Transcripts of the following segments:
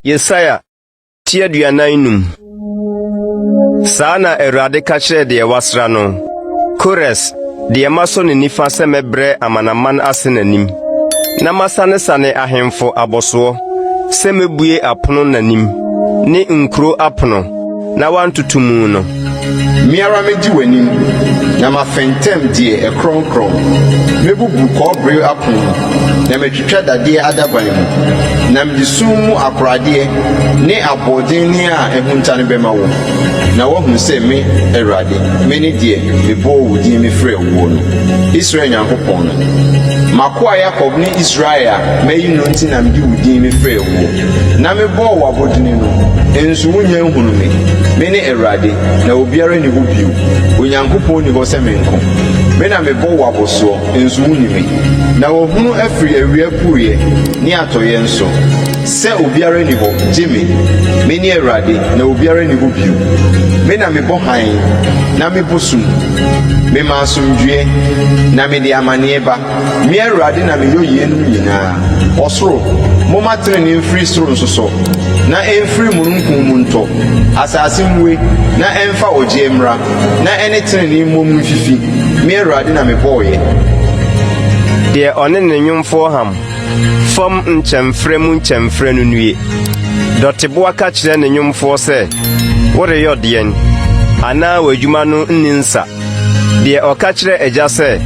Yesaia ti aduanan num. Saa na Awurade ka kyerɛ deɛ wasra no, Kores, deɛ masɔ ne nifa sɛ mɛbrɛ amanaman ase n'anim, na masanesane ahemfo abɔsoɔ sɛ mɛbue apono n'anim, ne nkuro apono. na wɔantoto mu no. Me ara medi w'anim, na mafɛntɛm deɛ ɛkorɔnkorɔn. Mɛbubu kɔbere apon mu, na matwitwa dadeɛ adaban mu, na mede sum mu akoradeɛ ne aboɔdenne a ahunta no bɛma wo, na woahunu sɛ me, Awurade, mene deɛ mebɔɔ wo din mefrɛɛ woɔ no, Israel Nyankopɔn no. M'akoa Yakob ne Israel a mayi no nti na mede wo din mefrɛɛ woɔ. Na mebɔɔ wo abɔdini no, nso wonnya nhunuu me. Mene Awurade, na obiara nni hɔ bio, Onyankopɔn nni hɔ sɛ me nko. Me na mebɔ wo abɔsoɔ, nso wonni me. Na wahunu afiri awia pueɛ ne atɔeɛ nso, sɛ obiara nni hɔ gye me. Mene Awurade, na obiara nni hɔ bio. Me na mebɔ hann, na mebɔ sum. Mema asomdwoeɛ, na mede amaneɛ ba. Me Awurade na meyɔ yeinom nyinaa. Ɔsoro, momma tenenee mfiri soro nsosɔ, na ɛmfiri mununkum mu ntɔ. Asase mmue, na ɛmfa ɔgyeɛ mmra, na ɛne tenenee mmom mfifi. Me Awurade na mebɔeɛ. Deɛ ɔne ne nnwomfoɔ ham fam nkyɛmferɛ mu nkyɛmferɛ no nnue. Dɔteboa ka kyerɛ ne nnwomfoɔ sɛ, Woreyɔ deɛn? Anaa w'adwuma no nni nsa. Deɛ ɔka kyerɛ agya sɛ,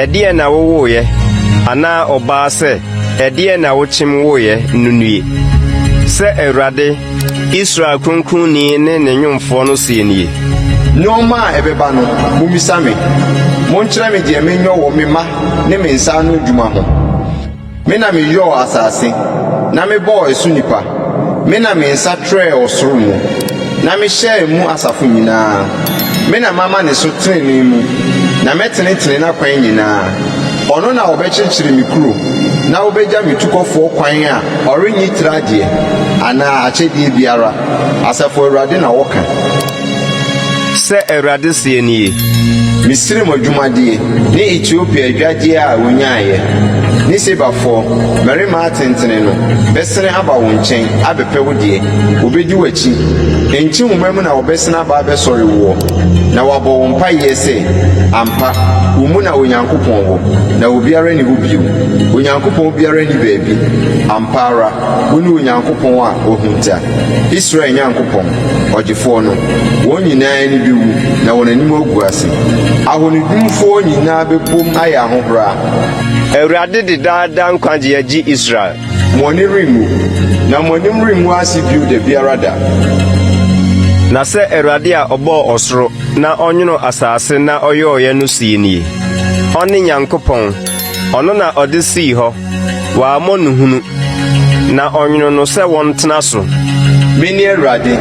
Ɛdeɛn na wowoeɛ? anaa ɔbaa sɛ, Ɛdeɛn na wokyem woeɛ? no nnue. Sɛ Awurade, Israel Kronkronni ne ne nwomfoɔ no seɛ nie. Nnoɔma a ɛbɛba no, mommisa me. Monkyerɛ me deɛ menyɔ wɔ me mma ne me nsa ano adwuma ho. Me na meyɔɔ asase, na mebɔɔ ɛso nnipa, me na me nsa trɛɛ ɔsoro mu, na mehyɛɛ mu asafo nyinaa. Me na mama ne so trenee mu, na mɛtenetene n'akwan nyinaa. Ɔno na ɔbɛkyerekyere me kuro na ɔbɛgya me tukɔfoɔ kwan a ɔrennye tira adeɛ anaa akyɛdeɛ biara, Asafo Awurade na ɔka. Sɛ Awurade seɛ nie. Misraim adwumadeɛ, ne Etiopia adwadie a wɔnyaeɛ, ne Sebafoɔ, mmarima atentene no, bɛsene aba wo nkyɛn, abɛpɛ wo deɛ, wɔbɛdi w'akyi, ɛnnkye nwoma mu na wɔbɛsene aba abɛsɔre woɔ, na wɔabɔ wo mpaeɛ sɛ, Ampa, wo mu na Onyankopɔn wɔ, na obiara nni hɔ bio, Onyankopɔn biara nni baabi, ampa ara, wone Onyankopɔn a wahunta. Israel Nyankopɔn, Ɔgyefoɔ no, wɔn nyinaa ani bɛwu na wɔn anim agu ase. Ahonihunfoɔ nyinaa bɛbom ayɛ ahohora. Awurade de daa daa nkwagyeɛ agye Israel. Mo ani renwu, na mo anim rengu ase bio da biara da. Na sɛ Awurade a ɔbɔɔ ɔsoro na ɔnwonoo asase na ɔyɔeɛ no seɛ nie, ɔne Nyankopɔn, Ɔno na ɔde sii hɔ, wammɔ no hunu, na ɔnwonoo no sɛ wɔntena so. Mene Awurade,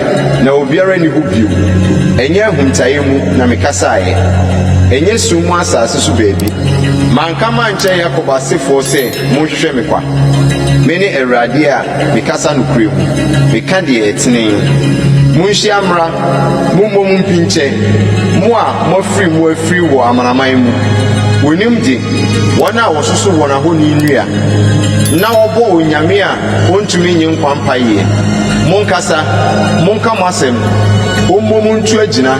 na obiara nni hɔ bio, ɛnyɛ ahuntaeɛ mu na mekasaeɛ, ɛnyɛ sum mu asase so baabi. Manka mankyerɛ Yakob asefoɔ sɛ, 'Monhwehwɛ me kwa'? Mene Awurade a Mekasa nokorɛ mu, meka deɛ ɛtene. Monhyia mmra, mommom mpinkyɛ, mo a moafiri mu afiri wɔ amanaman mu. Wonim de, wɔn a wɔsoso wɔn ahoni nnua, na wɔbɔ onyame a ɔntumi nnye nkwa mpaeɛ. Monkasa, monka mo asɛm, ommom montu agyina.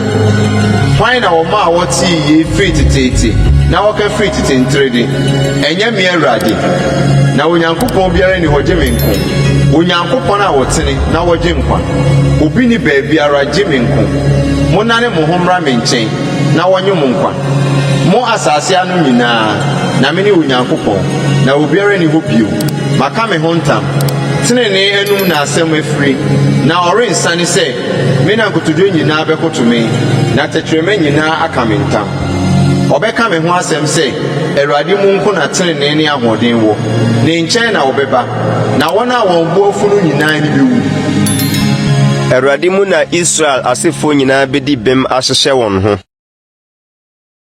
Hwan na ɔmaa wɔtee yei firi teteete, na wɔka firi tete nterede? Ɛnyɛ me Awurade? Na Onyankopɔn biara nni hɔ gye me nko, Onyankopɔn a ɔtene na ɔgye nkwa. Obi nni baabiara gye me nko. Monnane mo ho mmra me nkyɛn na wɔnnye mo nkwa, mo asase ano nyinaa, na mene Onyankopɔn, na obiara nni hɔ bio. Maka me ho ntam, tenenee anom na asɛm afiri, na ɔrensane sɛ me na nkotodwe nyinaa bɛkoto me, na tɛkrɛma nyinaa aka me ntam. Wɔbɛka me ho asɛm sɛ, 'Awurade mu nko na trenee ne ahoɔden wɔ. Ne nkyɛn na wɔbɛba, na wɔn a wɔn bo afu no nyinaa ani bewu. Awurade mu na Israel asefo nyinaa bedi bem ahyehyɛ wɔn ho.